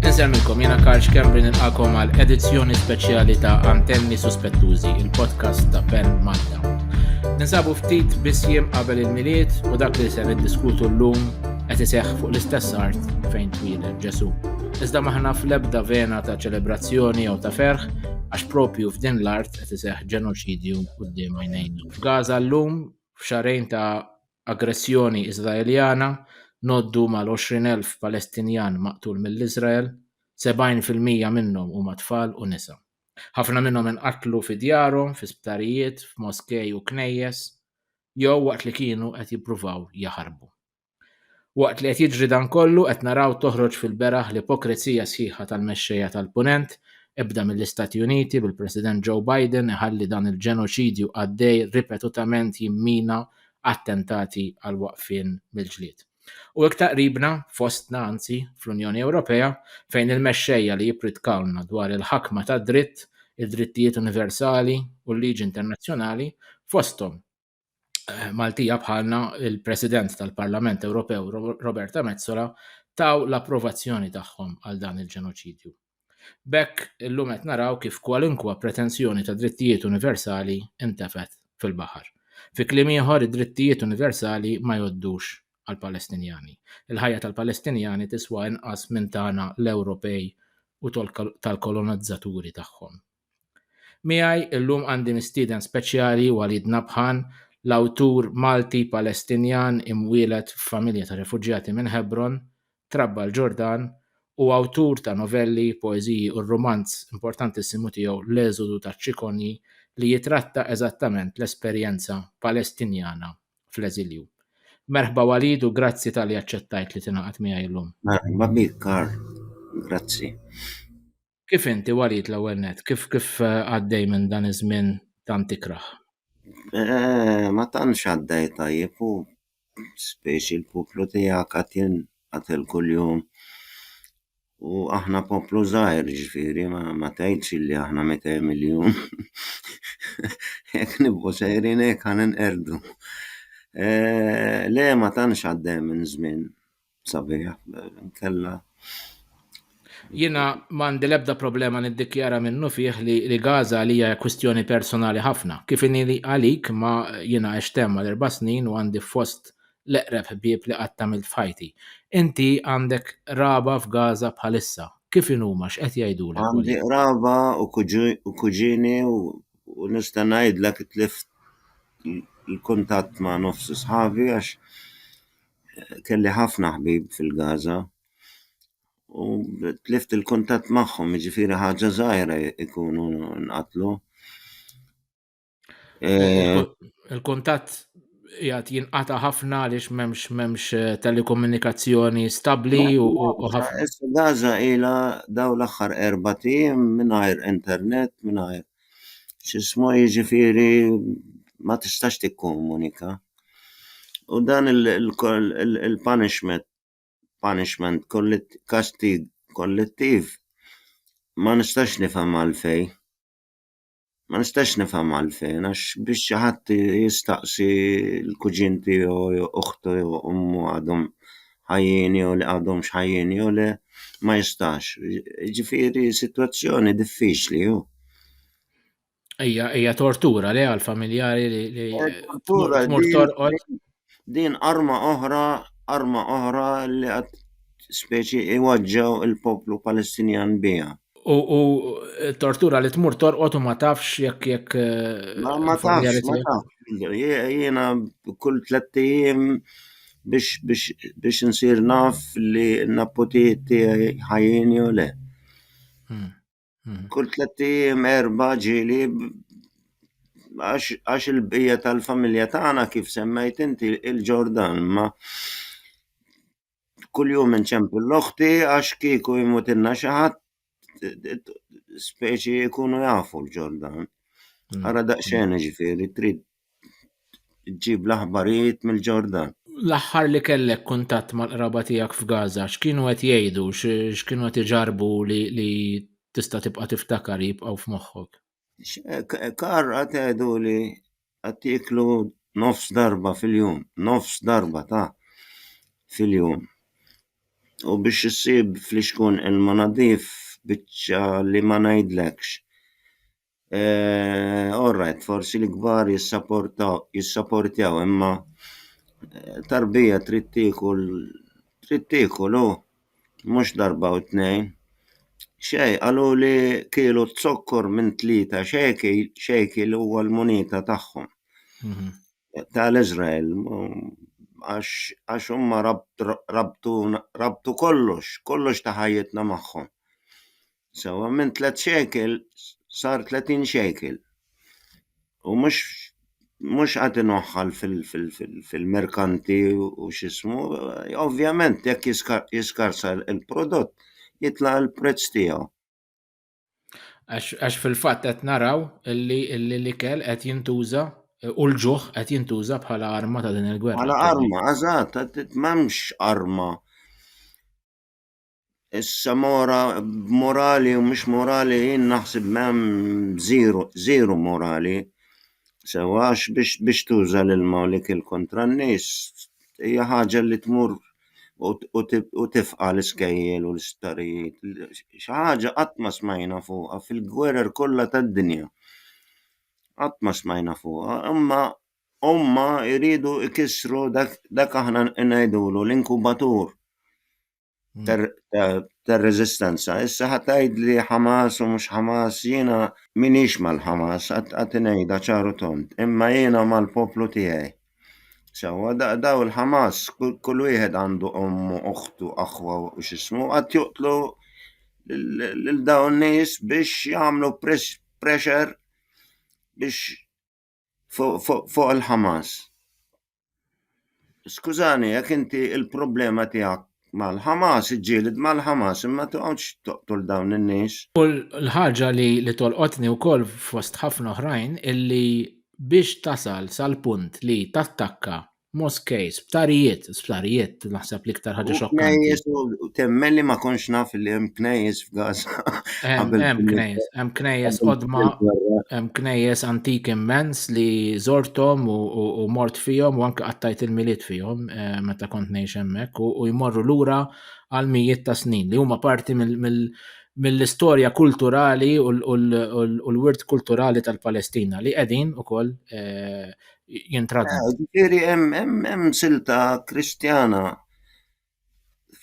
Insemmilkom jiena Karl Xkembri nilqakom għal edizzjoni speċjali ta' Antenni Suspettużi, il-podcast ta' Ben Malta. Ninsabu ftit biss jiem qabel il-miliet u dak li se niddiskutu llum qed iseħħ fuq l-istess art fejn twieled Ġesu. Iżda maħna fl-ebda vena ta' ċelebrazzjoni jew ta' ferħ għax propju f'din l-art qed iseħħ ġenoċidju quddiem għajnejna. F'Gaza llum f'xahrejn ta' aggressjoni Iżraeljana ngħoddu mal-20,000 Palestinjan maqtul mill-Iżrael, 70 fil-mija minnhom huma tfal u nisa. Ħafna minnhom inqatlu fi djarhom, fi sptarijiet, f'moskej u knejjes, jew waqt li kienu qed jippruvaw jaħarbu. Waqt li qed jiġri dan kollu qed naraw toħroġ fil-beraħ l-ipokrezija sħiħa tal-mexxejja tal-Punent, ebda mill-Istati Uniti bil-President Joe Biden iħalli dan il-ġenoċidju għaddej ripetutament jimmina attentati għal waqfien mill-ġlied. U iktar qribna, fostna anzi, fl-Unjoni Ewropea, fejn il-mexxejja li jippritkawlna dwar il-ħakma tad-dritt, id-drittijiet universali u l-liġi internazzjonali, fosthom, eh, Maltija bħalna il-President tal-Parlament Ewropew Roberta Mezzola taw l-approvazzjoni tagħhom għal dan il-ġenoċidju. Bekk illum qed naraw kif kwalunkwa pretensjoni ta' drittijiet universali intefet fil-baħar. Fi kliem ieħor id-drittijiet universali ma joddux għal Palestinjani. Il-ħajja tal-Palestinjani tiswa inqas minn tagħna l-Ewropej u tal-kolonizzaturi tagħhom. Miegħi llum għandi mistieden speċjali Walid Nabhan, l-awtur Malti Palestinjan imwieled f'familja ta' refuġjati minn Hebron, trabba l-Ġordan, u awtur ta' novelli, poeżiji u r-rumanz importantissimu tiegħu L-Eżodu taċ-Ċikonji li jitratta eżattament l-esperjenza Palestinjana fl-eżilju. Merħba Walid u grazzi talli aċċettajt li tingħaqad miegħi llum. Merħba bik Karl. Grazzi. Kif inti Walid l-ewwel net? Kif kif eh, għaddej minn dan iż-żmien tant ikrah? Eh, ma tantx għaddej tajjeb u speċi l-poplu tiegħek qed jinqatel kuljum. U aħna poplu żgħir ġifieri ma, ma tgħidx li aħna 200 miljun. Jekk nibqgħu sejrin hekk ħan inqerdu. Eh, le ma tantx għaddej minn żmien sabiħ nkella Jiena m'għandi l-ebda problema niddikjara minnu fih li, li Gaza għalija hija kwistjoni personali ħafna. Kif inhi li għalik ma jiena għext hemm għal erba' snin u għandi fost l-eqreb ħbieb li qatt għamilt f'ħajti. Inti għandek qraba f'Gaza bħalissa. Kif inhuma x'qed jgħidulek? Għandi qraba u kuġini u nista' ngħidlek tlift il-kuntatt ma' nofs sħabi għax kelli ħafna ħbieb fil-Gaza u tlift il-kuntatt magħhom, jiġifieri ħaġa żgħira jkunu nqatlu. Eh, il-kuntatt jgħat jinqata ħafna għaliex memx memx eh, telekomunikazzjoni stabli u ħafna. Gaza ila daw l-axħar erba tim minnajr internet, minnajr x'ismu jiġifieri ma tistax tikkomunika. U dan il-punishment punishment kastig kollettiv ma nistax nifhem għalfejn. Ma nistax nifhem għalfejn għax biex xi ħadd jistaqsi l-kuġin tiegħu jew uħtu jew ommu għadhom. ħajjin jew li għadhomx ħajjin jew le ma jistax. Ġifieri sitwazzjoni diffiċli hu. Ejja, ejja tortura li għal familjari li li tortura din arma oħra, arma oħra li għad speċi iwaġġaw il-poplu Palestinjan biha. U, u tortura li tmur torqot u ma tafx jekk jekk. Eh, ma, ma tafx, ma tafx. Jena kull tlettijiem biex, biex, biex nsir naf li n-napputi tiegħi ħajjin jew le. Hmm, hmm. Kull tlettijiem erba ġili għax il-bija tal-familja tagħna kif semmejt inti il-Ġordan ma kuljum inċempu l-oħti għax kieku jmutilna xi ħadd speċi jkunu jafu l-ġol dawn. Mm. Ara daqsxejn ġifieri trid ġib l-aħbarijiet mill-ġordan. L-aħħar li kellek kuntatt mal-qraba tiegħek f'Gaza, x'kienu qed jgħidu, x'kienu qed iġarbu li tista' tibqa' tiftakar jibqgħu f'moħħok? Kar għad għedu li għad tieklu nofs darba fil-jum, nofs darba ta' fil-jum. U biex issib fl-ixkun ilma nadif biċċa li ma ngħidlekx. Alright, forsi l-kbar jissaportjaw imma tarbija trid tiekol trid tiekol u. mhux darba u tnejn, xejn, qaluli kielu zokkor minn tlieta xejkil, xejkil huwa l-munita tagħhom tal-Iżrael, għax għax huma rabtu rabtu kollox, kollox ta' ħajjitna magħhom. Sewa minn tliet xejkel sar 30 xejkel. U mhux mhux qed inoħħal fil-merkanti u x'ismu, ovvjament jekk jiskarsa l-prodott jitla' l-prezz tiegħu. Għax fil-fatt qed naraw li l-ikel qed jintuża u l-ġuħ qed jintuża bħala arma ta' din il-gwerra. Bħala arma, eżatt, m'hemmx arma Issa mora b'morali u mhux morali jien naħseb m'hemm żiru żiru morali sewwa għax biex biex tuża l-ilma u l-ikel kontra n-nies hija ħaġa li tmur u u tifqa' l-iskejjel u l-isptarijiet xi ħaġa qatt ma smajna fuqha fil-gwerer kollha tad-dinja qatt ma smajna fuqha imma huma jridu jkissru dak dak aħna ngħidulu l-inkubatur. mm. tar-reżistenza. Issa ħadd tgħid li Hamas u mhux Hamas jiena minix mal-Hamas qatt ngħidha ċaru tont, imma jiena mal-poplu tiegħi. Sewwa daw il-Hamas kull wieħed għandu ommu, oħtu, aħwa u x'ismu qatt joqtlu lil dawn nies biex jagħmlu pressure biex fuq il-Hamas. Skużani, jekk inti il-problema tiegħek mal-Hamas, iġġieled mal-Hamas, imma toqgħodx toqtol dawn in-nies. U l-ħaġa li li tolqotni wkoll fost ħafna oħrajn illi biex tasal sal-punt li tattakka Moskej, sptarijiet, sptarijiet, naħseb li iktar ħaġa xokkanti. Knejjes u temmelli ma konx naf li hemm knejjes f'Gaza. Hemm knejjes, hemm knejjes qodma, hemm knejjes antik immens li żorthom u mort fihom u anke qattajt il-miliet fihom eh, meta kont ngħix hemmhekk u jmorru lura għal mijiet ta' snin li huma parti mill mill-istorja kulturali u l-wirt kulturali tal-Palestina li qegħdin ukoll eh, jintradna. Eh, ġifieri hemm silta Kristjana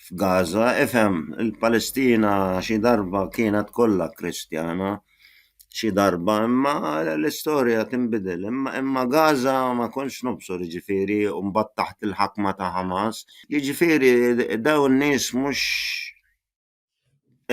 f'Gaza, ifhem il-Palestina xi darba kienet kollha Kristjana xi darba imma l-istorja tinbidel imma Gaza ma kontx nobsor ġifieri u mbagħad taħt il-ħakma ta' Hamas. Jiġifieri dawn nies mhux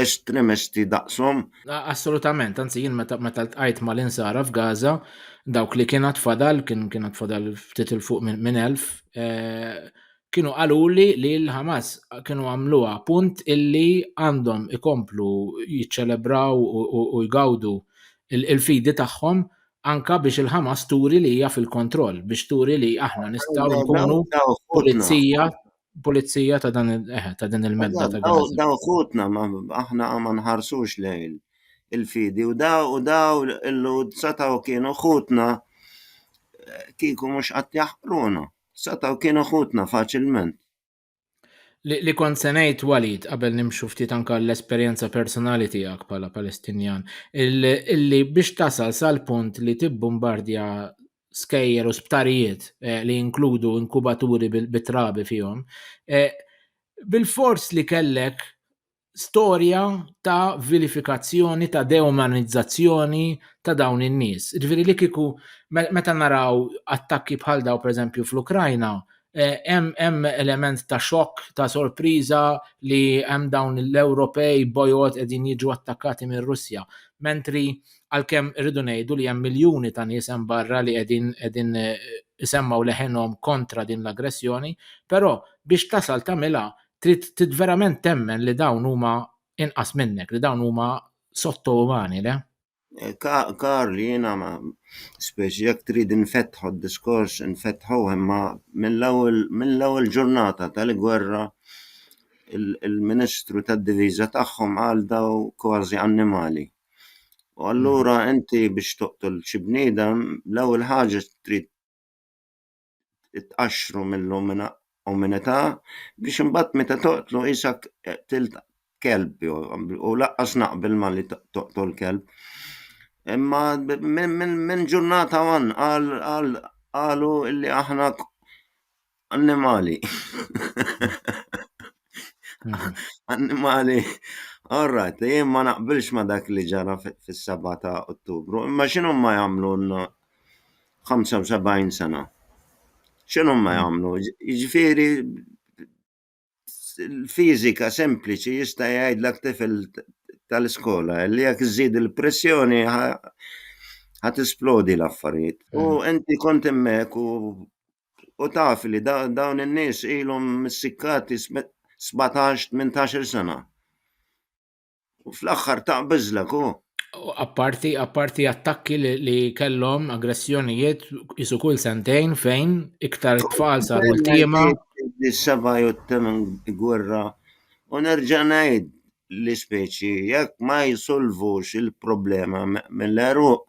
estremisti daqshom. Assolutament, anzi jien meta meta ltqajt mal-insara f'Gaza, dawk li kienet fadal, kien kienet fadal ftit il fuq minn elf, eh, kienu qaluli li l-Hamas kienu għamluha punt illi għandhom ikomplu jiċċelebraw u jgawdu il-fidi tagħhom anka biex il-Hamas turi li hija fil-kontroll, biex turi li aħna nistgħu nkunu pulizija pulizija ta' dan eh, ta' din il-medda ta' Daw Gaza. daw ħutna ma aħna ma nħarsux lejn il-fidi u daw u daw il-lud sataw kienu ħutna eh, kieku mhux qatt jaħqruna. Sataw kienu ħutna faċilment. Li, li kont se ngħid Walid qabel nimxu ftit anka l-esperjenza personali tiegħek bħala Palestinjan, il- illi biex tasal sal-punt li tibbombardja skejjer u sptarijiet eh, li jinkludu inkubaturi bit-trabi fihom, eh, bil-fors li kellek storja ta' vilifikazzjoni, ta' deumanizzazzjoni ta' dawn in-nies. Ġifieri li kiku meta naraw attakki bħal daw pereżempju fl-Ukrajna, Hemm eh, hemm element ta' xokk, ta' sorpriża li hemm dawn l-Ewropej bojod qegħdin jiġu attakkati minn Russja. Mentri għalkemm irridu ngħidu li hemm miljuni ta' nies hemm barra li qegħdin qegħdin eh, isemmaw leħenhom kontra din l-aggressjoni, però biex tasal tagħmilha trid trid verament temmen li dawn huma inqas minnek, li dawn huma sotto umani, le? Karl, jiena ma, speċi jekk trid infetħu d-diskors infetħuh imma mill-ewwel mill-ewwel ġurnata tal-gwerra il-Ministru tad-Diviża tagħhom qal dawn kważi annimali. U allura inti biex toqtol xi bniedem l-ewwel ħaġa trid tqaxxru mill-umanità biex imbagħad meta toqtlu isek qtilt kelb u laqqas naqbel ma li toqtol kelb. Imma minn ġurnata għan qalu li aħna annimali. Annimali. All right, jien ma naqbilx ma dak li ġara fis-7 ta' Ottubru, imma x'inhuma jagħmlu 75 sena. X'inhu huma jagħmlu? Jiġifieri l-fiżika sempliċi jista' jgħidlek tifel tal-iskola li jekk iżżid il-pressjoni ħa tisplodi l-affarijiet. U mm. inti kont hemmhekk u u taf li dawn in-nies ilhom missikkati 17-18 sena. U fl-aħħar taqbeżlek u. Apparti, apparti attakki li, li kellhom aggressjonijiet isu kull sentejn fejn iktar tfal saru l-tiema. Is-seba' jew t-temen gwerra u nerġa' ngħid li speċi jekk ma jisolvux il-problema mill-għeruq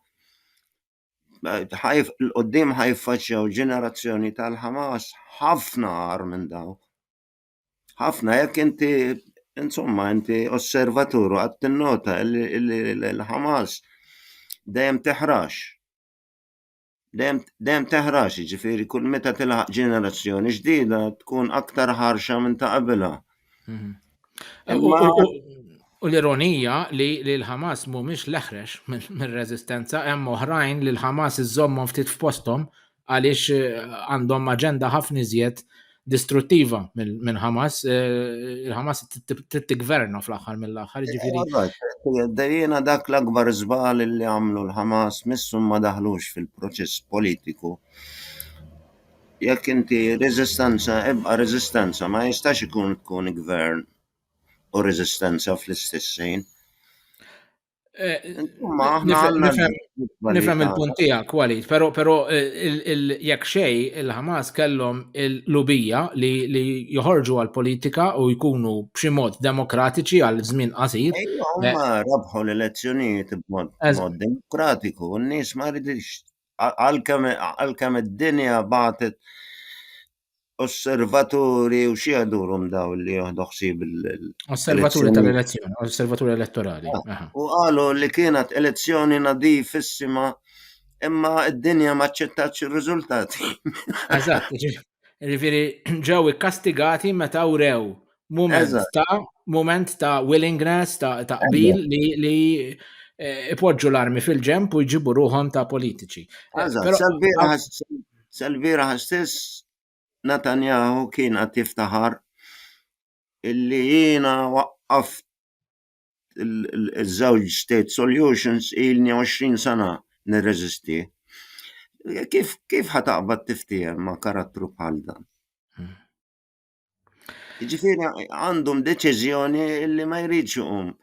ħajf l-qoddim ħajfaċċjaw ġenerazzjoni tal-Ħamas ħafna għar minn dawn. Ħafna jekk inti insomma inti osservatur għad tinnota li l-Ħamas dejjem teħrax. Dejjem teħrax, ġifieri kull meta tilħaq ġenerazzjoni ġdida tkun aktar ħarxa minn ta' qabilha. Mhm. U l-ironija li l-Ħamas mhumiex l-eħrex mir-reżistenza hemm oħrajn li l-Ħamas iżommhom ftit f'posthom għaliex għandhom aġenda ħafna iżjed distruttiva minn Hamas. Il-Hamas t-gverna fl-aħħar mill-aħħar ġifiri. Dejjena dak l-akbar żbal li għamlu l-Hamas missu ma daħlux fil-proċess politiku jekk inti reżistenza ebqa' reżistenza ma jistax ikun tkun gvern u reżistenza fl-istess ħin. Eh, nifhem il-punt tiegħek Walid, però però eh, jekk xej il-Ħamas kellhom il-lubija li joħorġu għal politika u jkunu b'xi mod demokratiċi għal żmien qasir. Huma eh, rabħu l-elezzjonijiet b'mod demokratiku, n-nies ma ridix għalkemm id-dinja bagħtet osservaturi u xi għadurhom daw li jieħdu ħsieb il- Osservaturi tal-elezzjoni, osservaturi elettorali. Ah, u qalu li kienet elezzjoni nadifissima imma id-dinja ma ċċettax ir-riżultati. Eżatt, ġifieri ġew ikkastigati meta wrew Moment ta' moment ta' willingness ta' taqbil li li eh, ipoġġu l-armi fil-ġemp u jġibu ruħom ta' politiċi. Eh, Salvira ħastess Natanjahu kien għat tiftaħar illi jiena waqqaft il-żewġ state solutions ilni 20 sena nirreżisti. Kif, kif ħataqbad tiftijem ma' karattru bħal dan? Ġifiri għandhom deċiżjoni li ma jridx iqum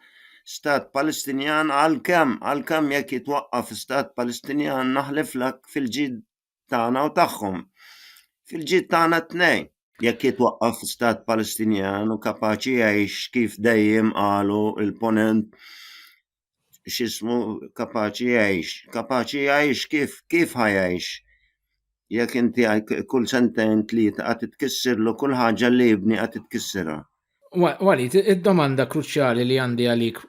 stat Palestinjan għal-kem, għal-kem jekk jitwaqqaf stat Palestinjan naħliflek fil-ġid tagħna u tagħhom. Fil-ġid tagħna t-tnejn. Jekk jitwaqqaf stat Palestinjan u kapaċi jgħix kif dejjem qalu il-ponent x'ismu kapaċi jgħix, kapaċi jgħix kif kif ħajgħix jekk inti kull sentejn tlieta qed titkissirlu kull ħaġa li jibni qed titkissirha. Walid, id-domanda kruċjali li għandi għalik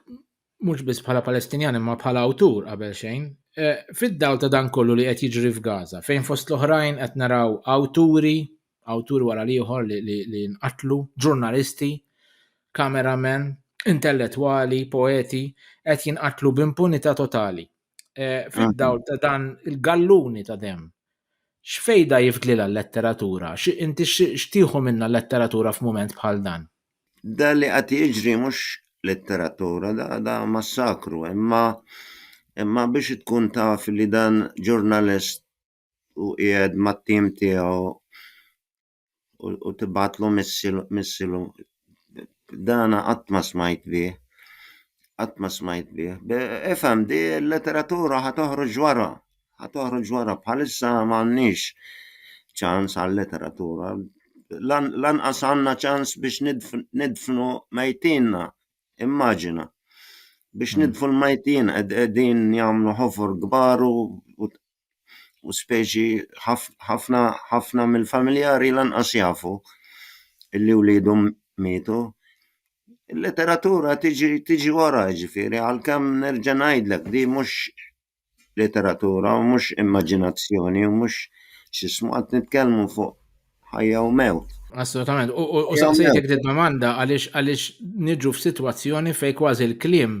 mhux biss bħala Palestinjan imma bħala awtur qabel xejn, eh, fid-dawl ta' dan kollu li qed jiġri f'Gaza, fejn fost l-oħrajn qed naraw awturi awtur wara l-ieħor li nqatlu, ġurnalisti, kameramen, intellettwali, poeti, qed jinqatlu b'impunità totali. Eh, fid-dawl ta' dan il-galluni ta' dem. X'fejda jifdlilha l-letteratura? Inti x'tieħu minna l-letteratura f'mument bħal dan? Da li qed jiġri mhux letteratura, da massakru, imma imma biex tkun taf li dan ġurnalist u qiegħed mat-tim tiegħu u tibgħatlu missilu dan qatt ma smajt bih, qatt ma smajt bih. Ifhem di l-letteratura ħa toħroġ wara, ħa toħroġ wara bħalissa m'għandniex ċans għal-letteratura, lanqas għandna ċans biex nidfnu mejtinna, immaġina. Biex nidfnu l-mejtin qegħdin jagħmlu ħofor kbar u u speċi ħafna ħafna mill-familjari lanqas jafu li wliedhom mietu. Il-letteratura tiġi tiġi wara jiġifieri għalkemm nerġa' ngħidlek li mhux letteratura u mhux immaġinazzjoni u mhux x'ismu qed nitkellmu fuq ħajja u mewt. Assolutament. U saqsejtek dik domanda għaliex għaliex niġu f'sitwazzjoni fejn kważi l-kliem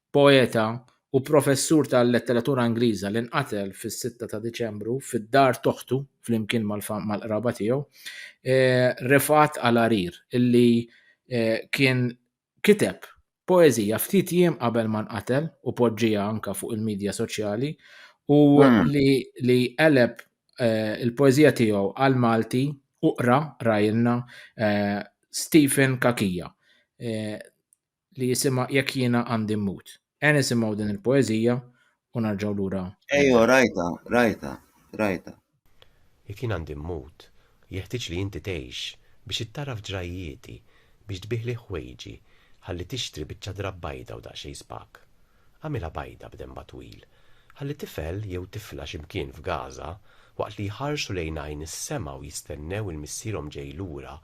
poeta u professur tal-letteratura Ingliża li nqatel fis-sitta ta' Diċembru fid-dar t'oħtu flimkien mal-qraba tiegħu Refat Alarir illi kien kiteb poeżija ftit jiem qabel ma nqatel u poġġieha anke fuq il-midja soċjali u li qeleb il-poeżija tiegħu għall-Malti u qra qrajilna Stephen Cachia. li jisimha Jekk Jiena Għandi Mmut. Ejja nisimgħu din il-poeżija u nerġgħu lura. Ejjo, rajtha, rajtha, rajtha. Jekk jien għandi mmut, jeħtieġ li inti tgħix biex ittagħraf ġrajjieti, biex tbiegħli ħwejġi, ħalli tixtri biċċa drapp bajda u daqsxejn spak. Agħmilha bajda b'denba twil. Ħalli tifel jew tifla xi mkien f'Gaża, waqt li jħarsu lejn għajn is-sema u jistennew il-missierhom ġej lura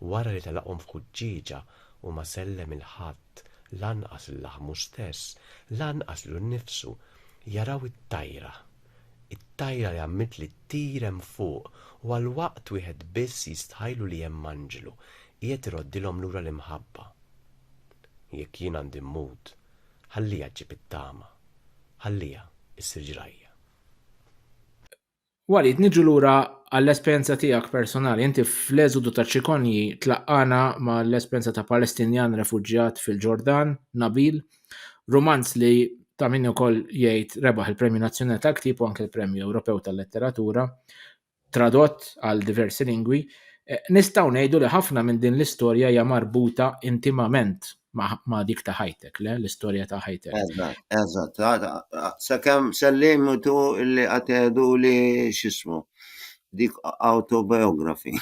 wara li telaqhom f'ħuġġieġa u ma sellem 'il ħadd, lanqas 'l laħmu stess, lanqas 'lu nnifsu, jaraw it-tajra. It-tajra li għammitli ttir hemm fuq u għal waqt wieħed biss jistħajlu li hemm anġlu qiegħed iroddilhom lura l-imħabba. Jekk jien għandi mmut, Ħalliha ġġib it-tama. Ħalliha issir ġrajja. Walid, niġu lura għall-esperjenza tiegħek personali. Inti fl-eżodu taċ-Ċikonji tlaqqana mal-esperjenza ta' Palestinjan refuġjat fil-Ġordan, Nabil, rumanz li ta' min ukoll jgħid rebaħ il-Premju Nazzjonali tal-Ktieb u anke l-Premju Ewropew tal-Letteratura. tradott għal diversi lingwi, nistgħu ngħidu li ħafna minn din l-istorja hija marbuta intimament ma' dik ta' ħajtek, le? L-istorja ta' ħajtek. Eżatt, eżatt. Sakemm sal-limitu li għatedu li xismu, dik autobiography.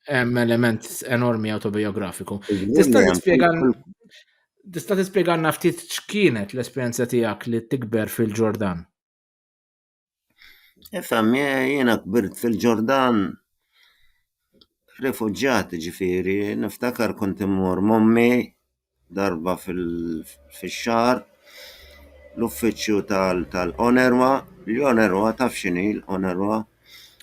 Hemm element enormi autobiografiku. Tista' tispjega Tista' tispjegalna ftit x'kienet l-esperjenza tiegħek li tikber fil-Ġordan? Ifhem, jiena kbirt fil-Ġordan, rifuġġjat jiġifieri, niftakar kont immur m'ommi darba fix-xahar l-uffiċċju tal-UNRWA, l-UNRWA taf x'inhi l-UNRWA?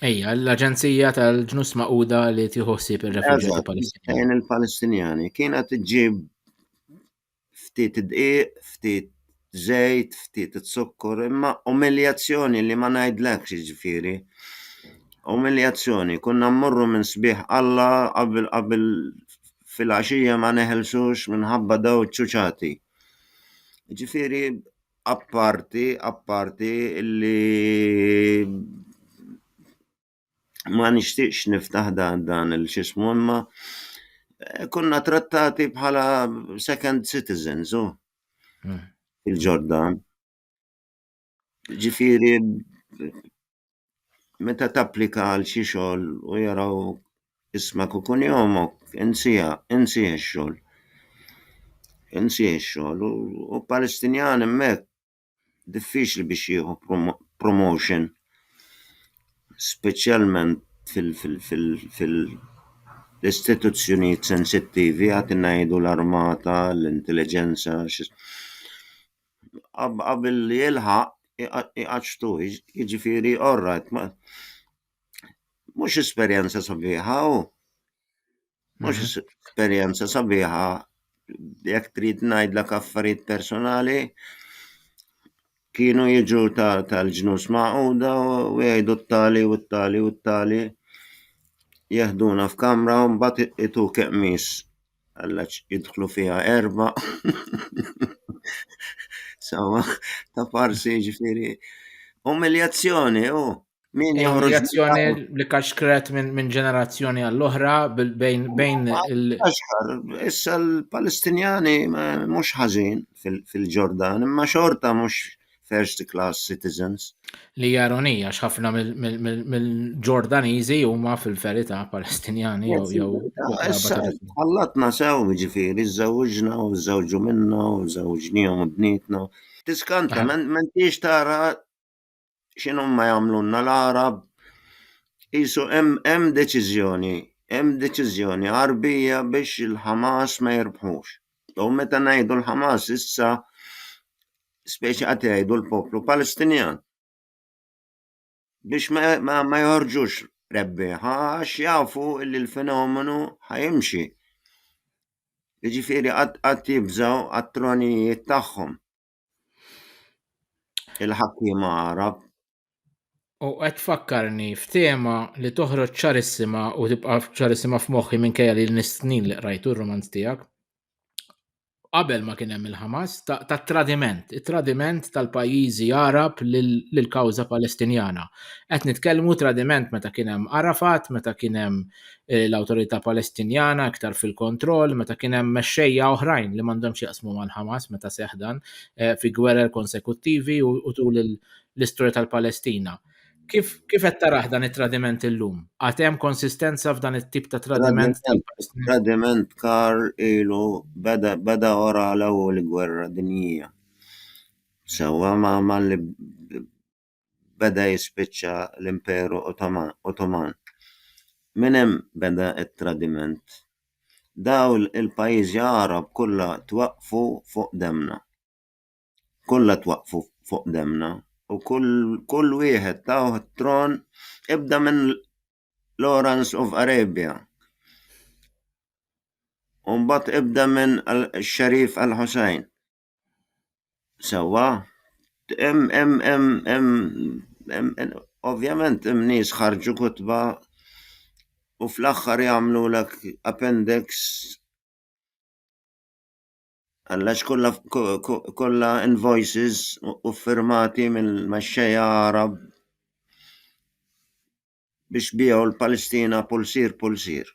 Ejja, l-Aġenzija tal-Ġnus Magħquda li tieħu ħsieb ir-refuġjati Palestinjani. Palestinjani kienet iġġib ftit dqiq, ftit żejt, ftit zukkor, imma umiljazzjoni li ma ngħidlekx jiġifieri. Umiljazzjoni, konna mmorru minn sbieħ Alla qabel qabel filgħaxija ma neħelsux minħabba dawn iċ-ċuċati. Jiġifieri apparti apparti li ma nixtieqx niftaħ dan dan il xismu imma eh, konna trattati bħala second citizens u hmm. il-Ġordan. Ġifiri, meta tapplika għal xi xogħol u jaraw ismak u kunjomok, insija, insija x-xogħol. Insija x-xogħol u Palestinjan hemmhekk diffiċli biex jieħu promotion speċjalment fil-istituzzjonijiet sensittivi għad ngħidu l-armata, l-intelliġenza, qabel jilħaq iqaċċtuh, jiġifieri orrajt, mhux esperjenza sabiħa hu. Mhux mhm. esperjenza sabiħa jekk trid ngħidlek affarijiet personali kienu jiġu tal-ġnus maquda u jgħidu t-tali u t-tali u t-tali jeħduna f'kamra u mbagħad itu keqmis għallax jidħlu fiha erba. Sawa, ta' farsi ġifiri. Umiljazzjoni, u. Oh. Min eh, joħroġ reazzjoni li kaxkret minn ġenerazzjoni għall-oħra bejn il- Issa l-Palestinjani mhux ħażin fil-Ġordan, imma xorta mhux first class citizens. Li jaronija x'ħafna mill-Ġordaniżi huma fil-verità Palestinjani jew Allatna sew ġifieri żewġna u żewġu minna u żewġnihom u bnietna. Tiskanta, ah. mentiex tara x'inhom ma jagħmlulna l-Għarab qisu hemm hemm deċiżjoni hemm deċiżjoni Għarbija biex il-Ħamas ma jirbħux. U meta ngħidu l-Ħamas issa speċi qed jgħidu l-poplu Palestinjan biex ma, ma, ma joħorġux rebbieħa għax jafu li l-fenomenu ħajimxi. Jiġifieri qatt qatt jibżgħu għat-tronijiet tagħhom. Il-ħakkiema Għarab. U qed fakkarni f'tema li toħroġ ċarissima u tibqa' ċarissima f'moħħi minkejja li nistnin li qrajtu r-romanz tiegħek. Qabel ma kien hemm il-Ħamas, ta' tradiment, it-tradiment tal-pajjiżi Arab lill-kawża Palestinjana. Qed nitkellmu tradiment meta kien hemm Arafat, meta kien hemm eh, l-Awtorità Palestinjana iktar fil-kontroll meta kien hemm mexxejja oħrajn li m'għandhomx jaqsmu mal-Ħamas meta seħdan eh, fi gwerer konsekuttivi u tul l-istorja tal-Palestina. Kif kif qed taraħ dan it-tradiment illum? Għad hemm konsistenza f'dan it-tip ta' tradiment? Tradiment kar ilu beda beda ora l-ewwel gwerra dinjija. Sewwa ma ma li beda jispiċċa l-Imperu Ottoman. Minn hemm beda t-tradiment. Dawl il-pajjiżi Għarab kollha twaqqfu fuq demmna. Kollha twaqqfu fuq demmna u kull kull wieħed tawh t-tron ibda minn Lawrence of Arabia u mbagħad ibda minn Sharif al-Hussein. Sewwa, hemm hemm hemm hemm hemm ovvjament hemm nies ħarġu kotba u fl-aħħar jagħmlulek appendix għall-għax kollha kollha invoices u ffirmati mill-mexxejja Għarab biex biegħu l-Palestina pulsier pulsier.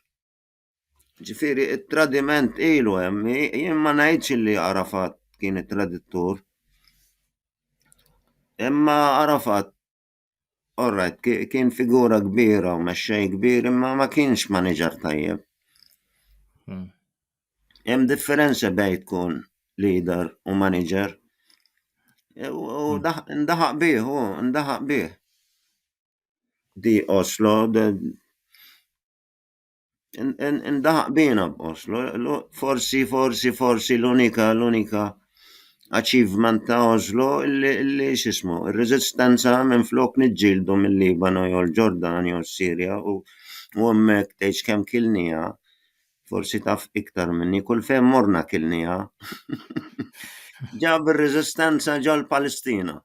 Ġifiri, il-tradiment ilu hemm, jien ma ngħidx li Arafat kien it-traditur. Imma Arafat, orrajt, kien figura kbira u mexxej kbir, imma ma kienx maniġer tajjeb. Hemm differenza bejn tkun leader u maniġer. U ndaħaq bih, u ndaħaq bih. Di Oslo, Indaħaq bina b'qos, forsi, forsi, forsi l-unika, l-unika achievement ta' Oslo li xismu, il-rezistenza minn flok nġildu mill-Libanu jew l-Ġordan jew s-Sirja u għommek teċ kem kilnija, forsi taf iktar minni, kull fej morna kilnija, ġab il-rezistenza ġal Palestina.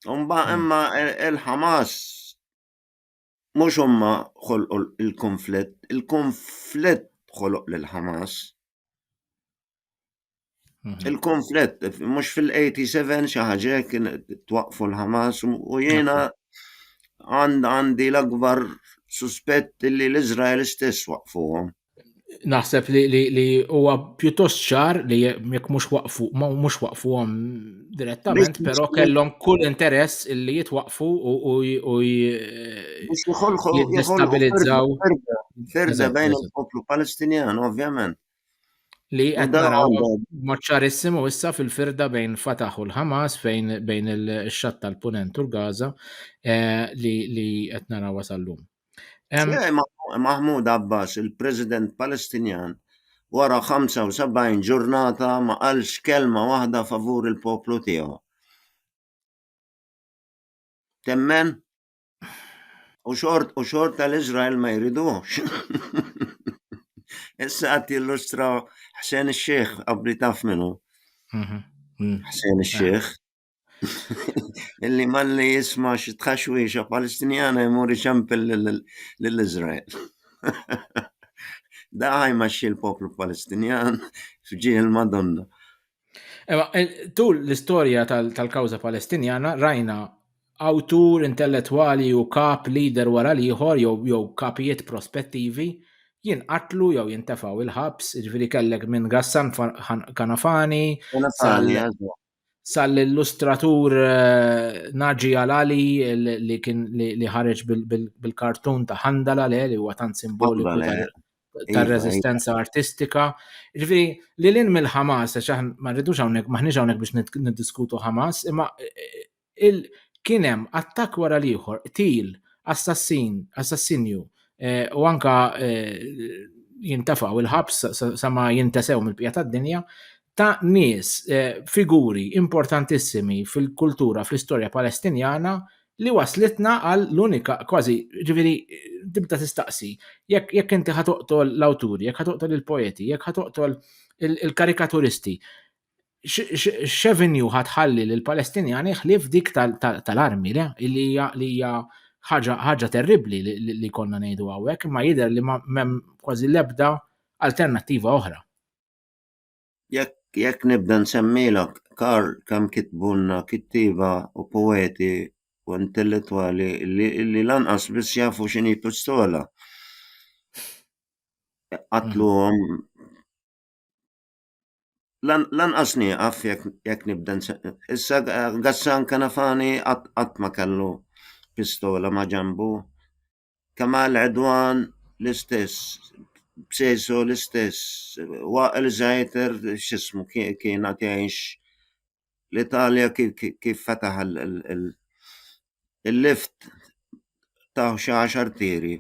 Umba imma il-Hamas Mhux huma ħolqu l-kunflitt, il-kunflitt ħoloq lil Hamas. Mhm. Il-konflitt, mux fil-87 xaħġa kien twaqfu l-Hamas u jena għandi l-akbar suspett li l-Izrael stess waqfuhom. naħseb li huwa pjuttost ċar li jekk mhux waqfu mhux waqfuhom direttament, però kellhom kull interess li jitwaqfu u jistabilizzaw. Ferda bejn il-poplu Palestinjan, ovvjament. Li qed naraw maċċarissimu issa fil-firda bejn Fatah u l-Hamas fejn bejn il-xatt tal-Punent u l-Gaza eh, li qed naraw wasallum. Mahmoud Abbas, il-President Palestinjan, wara 75 ġurnata ma qalx kelma waħda favur il-poplu tiegħu. Temmen? U xort u xort tal-Izrael ma jridux. Issa għat jillustra Hsen Sheikh, għabri taf minu. Mhm. Hsen Sheikh. Illi malli jisma xi tħaxwiexa Palestinjana jmur ixempel lil Iżrael. Da ħajmexxi l-poplu Palestinjan f'ġieħ il-Madonna. Ema, tul l-istorja tal-kawża Palestinjana rajna awtur intellettwali u kap leader wara l-ieħor jew kapijiet prospettivi jinqatlu jew jintefgħu il-ħabs, jiġifieri kellek minn Gassan Kanafani, sal-illustratur Naġi Alali li kien li ħareġ bil-kartun ta' Handala le li huwa tant simboliku ta' rezistenza artistika. Ġifieri li lin mill-Ħamas għax ma rridux hawnhekk maħniex hawnhekk biex niddiskutu Ħamas, imma kien hemm attakk wara l-ieħor, qtil, assassin, assassinju u anke jintefgħu l-ħabs sa ma jintesew mill-bqija tad-dinja, ta' nies, figuri importantissimi fil-kultura, fl-istorja Palestinjana li wasslitna għal l-unika, kważi, jiġifieri tibda tistaqsi, jekk inti ħa toqtol l-awturi, jekk ħa toqtol il-poeti, jekk ħa toqtol il-karikaturisti, x'avenue ħatħalli lill palestinjani ħlief dik tal-armi li hija ħaġa terribbli li konna ngħidu hawnhekk imma jidher li m'hemm kważi l-ebda alternattiva oħra. Jekk nibda nsemmilok Karl kemm kitbulna kittieba u poeti u intellettwali li lanqas biss jafu x'inhi pistola. Qatluhom lanqas nieqaf jekk nibda issa Gassan Kanafani qatt ma kellu pistola ma' ġenbu, Kamal Għedwan l-istess, B'Sejso l-istess, Waqel Zaeter x'ismu kien għad jgħix l-Italja kif fetaħ il-lift taw xi għaxar tiri.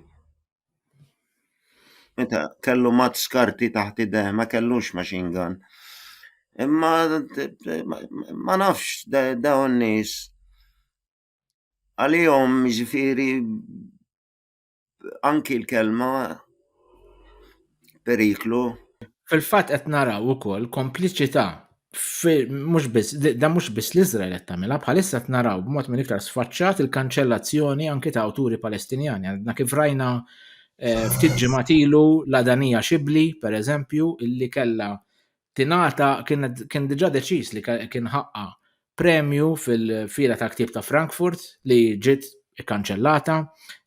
Meta kellu mat skarti taħt idejh, ma kellux machine gun. Imma ma nafx dawn nies għalihom jiġifieri anki l-kelma periklu. Fil-fatt qed naraw ukoll kompliċità mhux biss da mhux biss l-Iżrael qed tagħmilha bħalissa qed naraw b'mod minn iktar sfaċċat il-kanċellazzjoni anki ta' awturi Palestinjani għandna kif rajna eh, ftit ġimgħat ilu l-Adanija Xibli pereżempju illi kellha tingħata kien diġà deċiż li kien ħaqqa premju fil-fira ta' ktib ta' Frankfurt li ġiet ikkanċellata.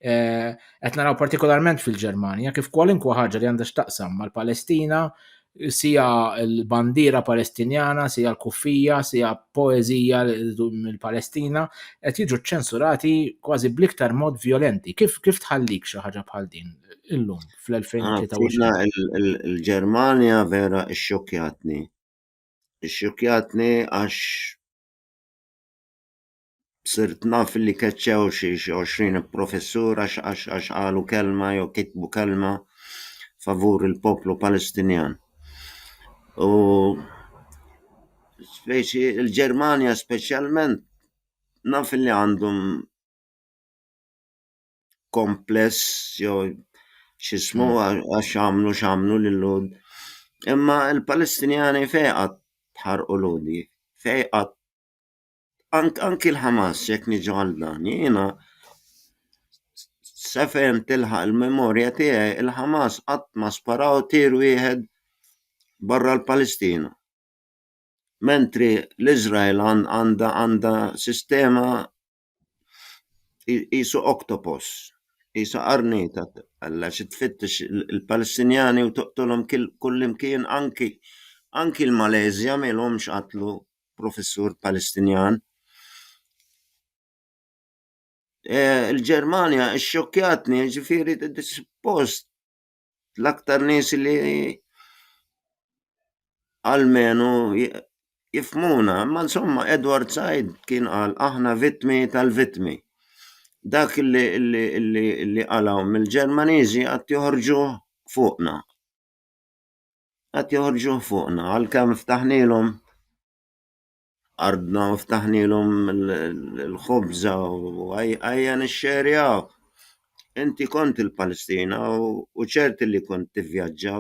Eh, qed naraw partikolarment fil-Ġermanja kif kwalunkwe ħaġa li għandha x'taqsam mal-Palestina sija l-bandira palestinjana, sija l-kuffija, sija poezija mill-Palestina, qed jiġu ċensurati kważi bliktar mod violenti. Kif, kif tħallik xi ħaġa bħal din illum? fl-2023. Il-Ġermanja vera xxokjatni. Xxokjatni għax sirt naf li keċċew xi 20 professur għax għax għax qalu kelma jew kitbu kelma favur il-poplu Palestinjan. U speċi il-Ġermanja speċjalment naf li għandhom kompless jew xismu hmm. għax għamlu xamlu l-lud. Imma il-Palestinjani fejqat ħarqu ludi, fejqat anki l-Hamas jek niġu għal dan, jena sefen tilħaq il-memorja tiegħi il-Hamas qatt ma sparaw tir wieħed barra l-Palestina. Mentri l-Izrael għanda għanda sistema Isu oktopos, isu qarnita, alla xi tfittex il-Palestinjani u toqtolhom kullimkien anki anki l-Malezja ma ilhomx qatlu professur Palestinjan. Eh, il-Ġermanja xxokkjatni, ġifieri suppost l-aktar nies li almenu jifhmuna. Imma insomma, Edward Said kien qal aħna vittmi tal-vittmi. Dak li, li, li, li qalaw mill-Ġermaniżi għad joħorġuh fuqna. Għad joħorġuh fuqna, għalkemm ftaħnilhom Ardna u ftaħnielhom il-ħobża u ejja nixxerjaw. Inti kont il-Palestina u ċerti li kont tivvjaġġa.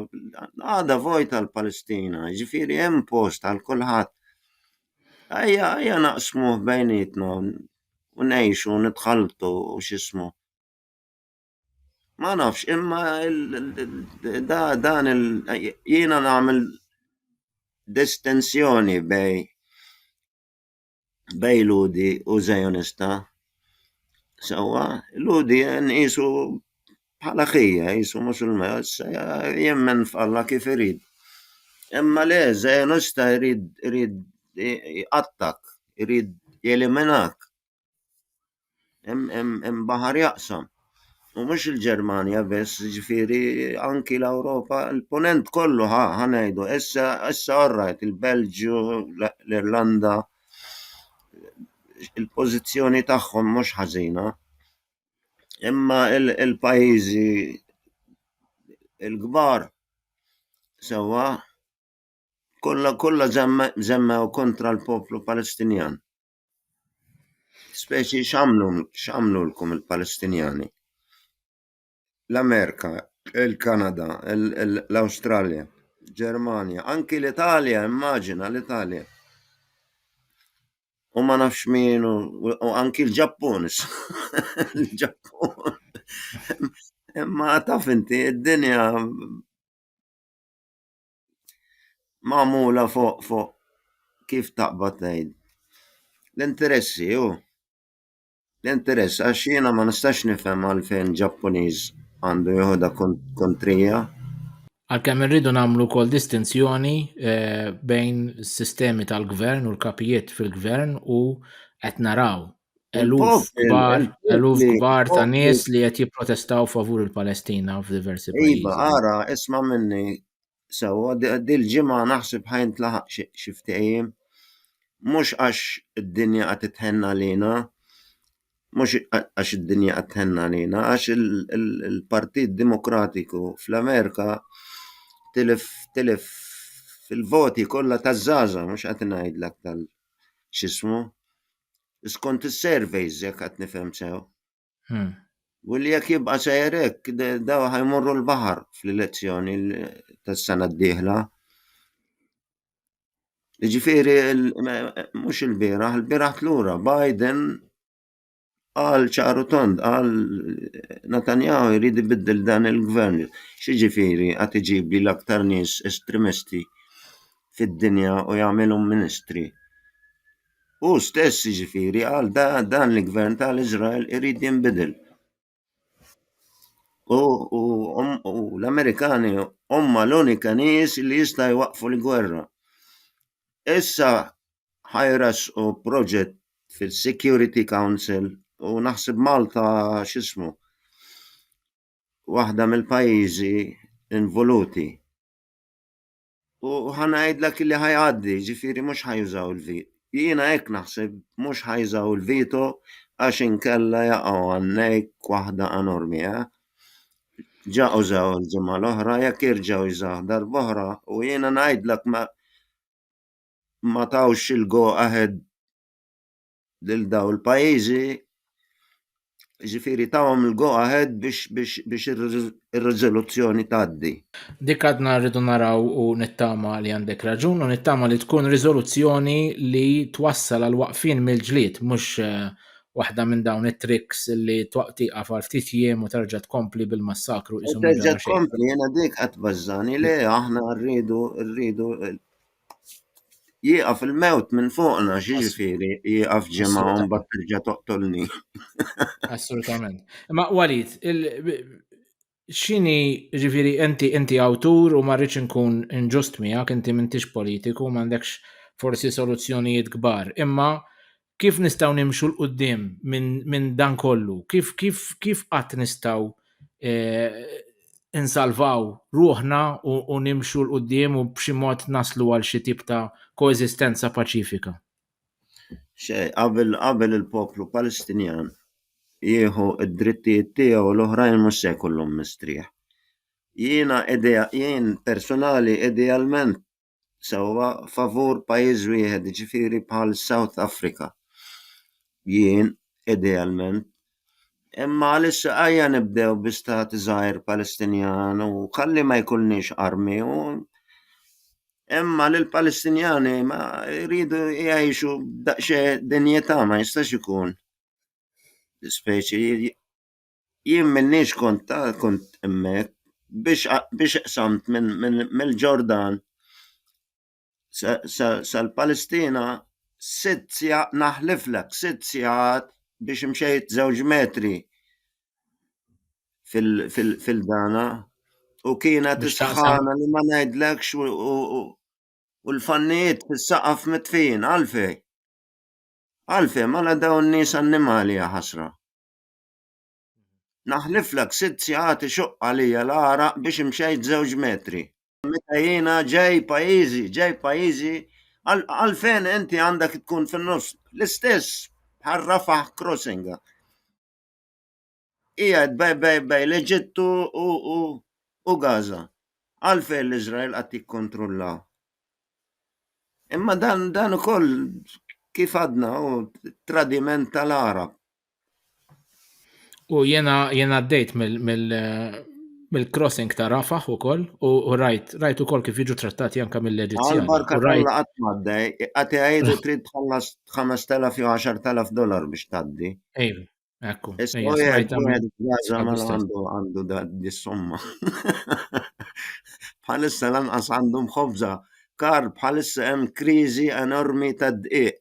Għadha vojta l-Palestina, jiġifieri hemm post għal kulħadd. Ejja naqsmuh bejnietna u ngħixu u nitħalltu u x'ismu. Ma nafx, imma dan il jiena nagħmel distinzjoni bej bej Lhudi u Zionista. Sewwa, Lhudi nqisu bħala ħija, nqisu Musulman, jemmen f'Alla kif irid. Imma le, Zionista jrid jrid jqattgħak, irid jeliminak. Hemm baħar jaqsam. U mhux il-Ġermanja biss, jiġifieri anki l-Ewropa, il-Punent kollu ħa ngħidu, issa orrajt il-Belġju, l-Irlanda, il-pożizzjoni tagħhom mhux ħażina. Imma il-pajjiżi l-kbar sewwa kollha żemmew kontra l-poplu Palestinjan. Speċi x'għamlu x'għamlulkom il-Palestinjani? L-Amerika, il-Kanada, l-Awstralja, Ġermanja, anki l-Italja, immaġina l-Italja. U ma nafx min u anki l-Ġappun. L-Ġappun. Imma taf inti, id-dinja Magħmula fuq fuq kif taqbad tgħid. L-interessi hu l-interess għax jiena ma nistax nifhem għalfejn Ġappuniż għandu jieħu da kontrija. Għalkemm irridu nagħmlu wkoll distinzjoni eh, bejn sistemi tal-gvern u l-kapijiet fil-gvern u qed naraw eluf kbar, eluf kbar ta' nies li qed jipprotestaw favur il-Palestina f'diversi iva, pajjiżi. Iva, ara, isma' minni sewwa dil-ġimgħa naħseb ħajn tlaħaq xi ftehim mhux għax id-dinja qed titħenna lina, mhux għax id-dinja qed tħenna lina, għax il-Partit Demokratiku fl-Amerika tilef tilef fil-voti kollha taż-żgħażagħ mhux qed ngħidlek tal x'ismu Skont is-surveys jekk qed nifhem sew. Hmm. U li jekk jibqa' sejjer hekk daw ħajmorru l-baħar fl-elezzjoni tas-sena d-dieħla. Ġifieri mhux il-bieraħ, il-bieraħ lura Biden għal ċaru tond, għal Netanyahu jrid ibiddel dan il-gvern. Xiġifieri għad iġibli l-aktar nies estremisti fid-dinja u jagħmilhom ministri. Hu stess jiġifieri qal da dan il-gvern tal-Iżrael irid jinbidel. U, u, hom- u l-Amerikani huma l-unika nies li jista' jwaqqfu l-gwerra. Issa ħajras u proġett fil-Security Council u naħseb Malta x'ismu waħda mill-pajjiżi involuti. U ħanajdlek li ħajgħaddi, ġifieri mhux ħajużaw il-veto. Jiena hekk naħseb mhux ħajżaw il-veto għax inkella jaqgħu għannejk waħda enormi, eh? Ġa użaw il-ġimgħa l-oħra jekk jerġgħu jżaħ darb'oħra u jiena ngħidlek ma ma tawx il-go ahead lil daw il-pajjiżi ġifiri tawhom il-go ahead biex biex biex ir-riżoluzzjoni tgħaddi. Dik għadna rridu naraw u nittama li għandek raġun u nittama li tkun riżoluzzjoni li twassal għal waqfin mill-ġlied mhux eh, waħda minn dawn it-tricks li twaqtiqa għal ftit jiem u terġa' tkompli bil-massakru isu Terġa' tkompli jiena dik qatt bażżani le aħna rridu rridu Jieqaf il-mewt minn fuqna, ġifieri jieqaf ġimgħa u mbagħad terġa' toqtolni. Assolutament. Ma Walid, x'inhi ġifieri inti inti awtur u ma rridx inkun inġust miegħek, inti m'intix politiku, m'għandekx forsi soluzzjonijiet kbar, imma Kif nistgħu nimxu 'l quddiem minn minn dan kollu? Kif kif kif qatt nistgħu insalvaw ruħna u u nimxu 'l quddiem u b'xi mod naslu għal xi tip ta' koeżistenza paċifika? Xejn, qabel qabel il-poplu Palestinjan jieħu d-drittijiet tiegħu l-oħrajn mhux se jkollhom mistrieħ. Jiena idea jien personali idealment sewwa favur pajjiż wieħed, jiġifieri bħal South Africa. Jien, idealment. Imma għalissa ejja nibdew bi stat żgħir Palestinjan u kalli ma jkollniex armi u imma l Palestinjani ma jridu jgħixu daqsxejn dinjità ma jistax ikun. Speċi Jien m'inniex kont ta' kont hemmhekk biex biex qsamt minn minn mill-Ġordan sa sa sal-Palestina sitt sigħ naħliflek sitt sigħat biex mxejt żewġ metri fil fil fil-dana u kienet is-sħana li ma ngħidlekx u u u u l-fannijiet fis-saqaf mitfijin għalfejn? Għalfejn? Mela dawn nies annimali jaħasra. Naħliflek sitt sigħat ixuqq għalija l-għaraq biex imxejt żewġ metri. Meta jiena ġej pajjiżi, ġej pajjiżi, għalfejn inti għandek tkun fin-nofs? L-istess bħal Rafah Crossing. Qiegħed bejn l-Eġittu u Gaza. Għalfejn l-Iżrael qed jikkontrulla? Imma dan ukoll kif għadna hu tradiment tal-Għarab. U jena jena għaddejt mill-crossing ta' Rafaħ u koll, u rajt, rajt u koll kif jiġu trattati anka mill-Eġizzjani. Barka rajt għat maddej, għati għajdu trid tħallas 5.000 jew 10.000 dolar biex taddi. Ej, ekku. Għandu da dis-somma. Bħalissa lanqas għandhom ħobza. Kar bħalissa hemm kriżi enormi ta' dqiq.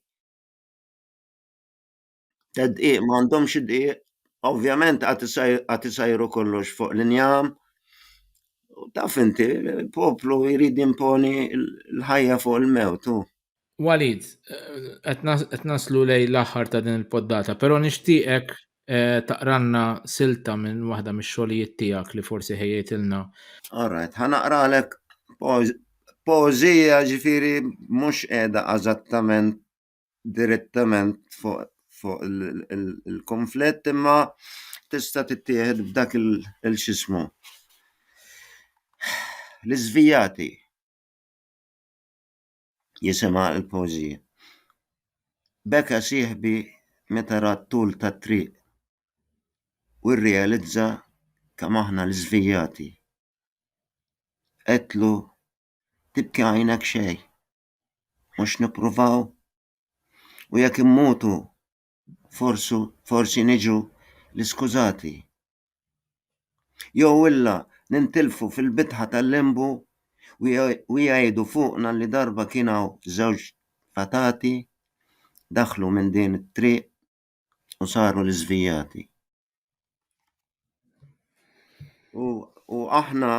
Tad-dqiq m'għandhomx id-dqiq, ovvjament għad isajru kollox fuq l-injam. Taf inti, il-poplu jrid jimponi l-ħajja fuq il-mewt hu. Walid, qed naslu lej l-aħħar ta' din il-poddata, però nixtieqek eh, taqranna silta minn waħda mix-xogħlijiet tiegħek li forsi ħejjejtilna. All right, ħanaqralek poeżija ġifieri mhux qiegħda eżattament direttament fuq fuq il-konflitt imma tista' tittieħed b'dak il-xismu. L-iżvijati jisima l-poeżija. Beka sieħbi meta ra t-tul tat-triq u rrealizza kemm aħna l-iżvijati. Għedtlu tibki għajnek xejn. mhux nippruvaw u jekk immutu forsu forsi niġu l-iskużati. Jew illa nintilfu fil-bitħa tal-lembu u jgħidu fuqna li darba kien hawn żewġ fatati daħlu minn din it-triq u saru l-iżvijati. U, u aħna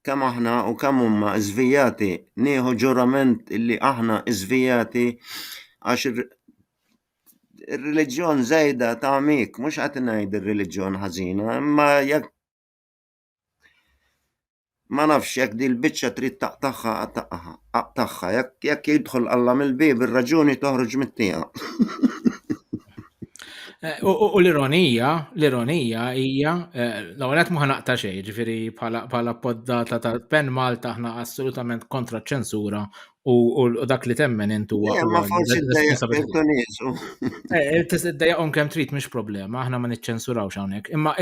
kemm aħna u kemm huma żvijati, nieħu ġurament li aħna żvijati għax ir-reliġjon żejda ta' mik, mhux qed ngħid ir-reliġjon ħażina, imma jekk Ma nafx jekk din il-biċċa trid taqtagħha taqtagħha. Aqtagħha jekk jekk jidħol Alla mill-bieb ir-raġuni toħroġ mit-tiegħu. Eh, u l-ironija, l-ironija hija, eh, l-ewwel qed ma naqta' xejn, ġifieri bħala poddata tal-Pen Malta aħna assolutament kontra ċensura U dak li temmen int huwa. Eh, ma forsi d-dajaqom eh, eh, kemm trid mhix problema, aħna ma niċċensurawx hawnhekk. Imma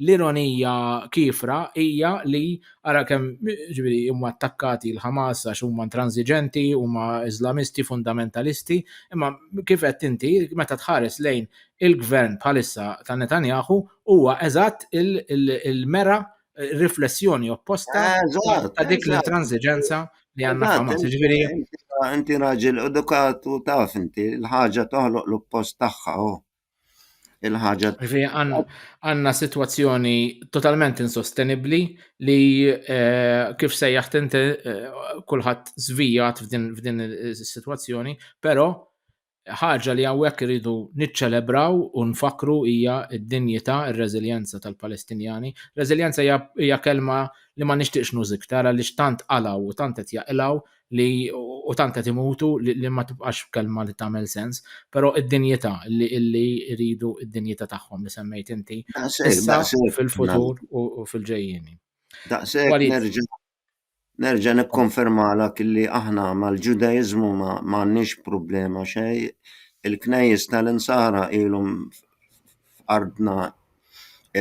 l-ironija kifra hija li ara kemm ġifieri huma attakkati l-Ħamas għax huma intransiġenti, huma Iżlamisti fundamentalisti, imma kif qed inti meta tħares lejn il-gvern bħalissa ta' Netanyahu huwa eżatt il-mera riflessjoni opposta eh, ta' dik l-intransiġenza li għanna Hamas. Ġifieri inti raġel edukat u taf inti l-ħaġa toħloq l-oppost tagħha oh. il-ħaġa. Għanna situazzjoni totalment insostenibli li eh, kif se jaħtente eh, kulħadd zvijat f'din is-situazzjoni, però Ħaġa li hawnhekk irridu niċċelebraw u nfakkru hija d-dinjità, ir-reżiljenza tal-Palestinjani. Reżiljenza hija hija kelma li ma nixtieqx nuż iktar għaliex tant qalgħu u tant qed jaqilgħu li u tant qed imutu li, li ma tibqax kelma li tagħmel sens. Però id-dinjità li li jridu d-dinjità tagħhom li semmejt inti Daqshekk, issa, daqshekk. fil-futur u u fil-ġejjieni. Daqshekk Walid. nerġa' Nerġa' nikkonfermalek li aħna mal-Ġudaiżmu ma m'għandniex problema xejn. Il-knejjes tal-Insara ilhom f'ardna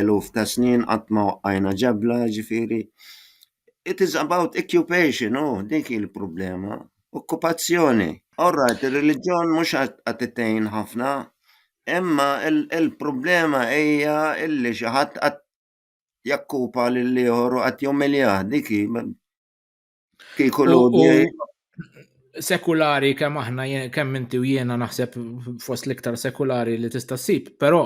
eluf ta' snin qatt ma waqqajna ġebla, jiġifieri it is about occupation, hu dik hi l-problema, okkupazzjoni. All right, ir-reliġjon mhux qed tgħin ħafna, imma l-problema hija li xi ħadd qed jakkupa lil ieħor u qatt jumiljah dik kieku sekulari kemm aħna kemm inti u jiena naħseb fost l-iktar sekulari li tista' ssib, però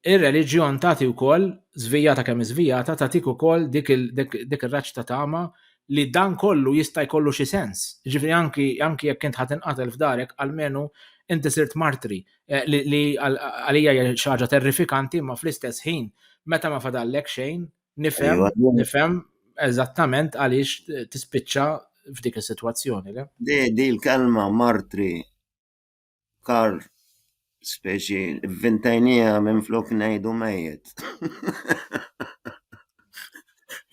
ir-reliġjon tagħti wkoll żvijata kemm iżvijata tagħtik ukoll dik ir-raġġ ta' tama li dan kollu jista' jkollu xi sens. Ġifieri anki anki jekk int ħadd inqatel f'darek almenu inti sirt martri Eh, li, li għalija hija xi ħaġa terrifikanti, ma fl-istess ħin meta ma fadallek xejn, nifhem, iva, nifhem eżattament għaliex tispiċċa f'dik is-sitwazzjoni. Di, di l-kelma martri kar speċi vintajnija minn flok ngħidu mejjet.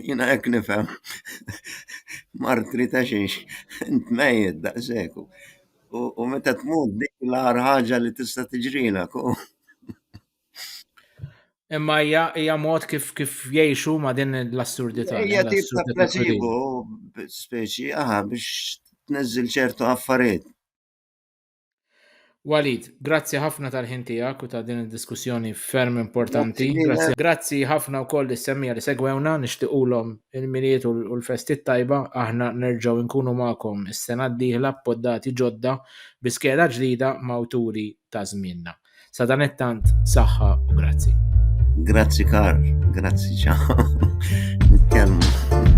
Jina hekk nifhem martri ta' xiex, int mejjet daqseku. U meta tmut dik l-għar ħaġa li tista' tiġrina. Imma hija mod kif kif jgħixu ma' din l-assurdità. Hija tip ta' placebo speċi aha biex tneżżil ċertu affarijiet. Walid, grazzi ħafna tal-ħin tiegħek u ta' din id-diskussjoni ferm importanti. Grazzi ħafna wkoll is-semmija li segwewna nixtiequlhom il-Milied u l-Festi t-Tajba, aħna nerġgħu nkunu magħkom is-sena d-dieħla b'poddati ġodda bi skeda ġdida m'awturi ta' żmienna. Sadanittant saħħa u grazzi. Grazzi Karl, grazzi ċa. Nitkellmu.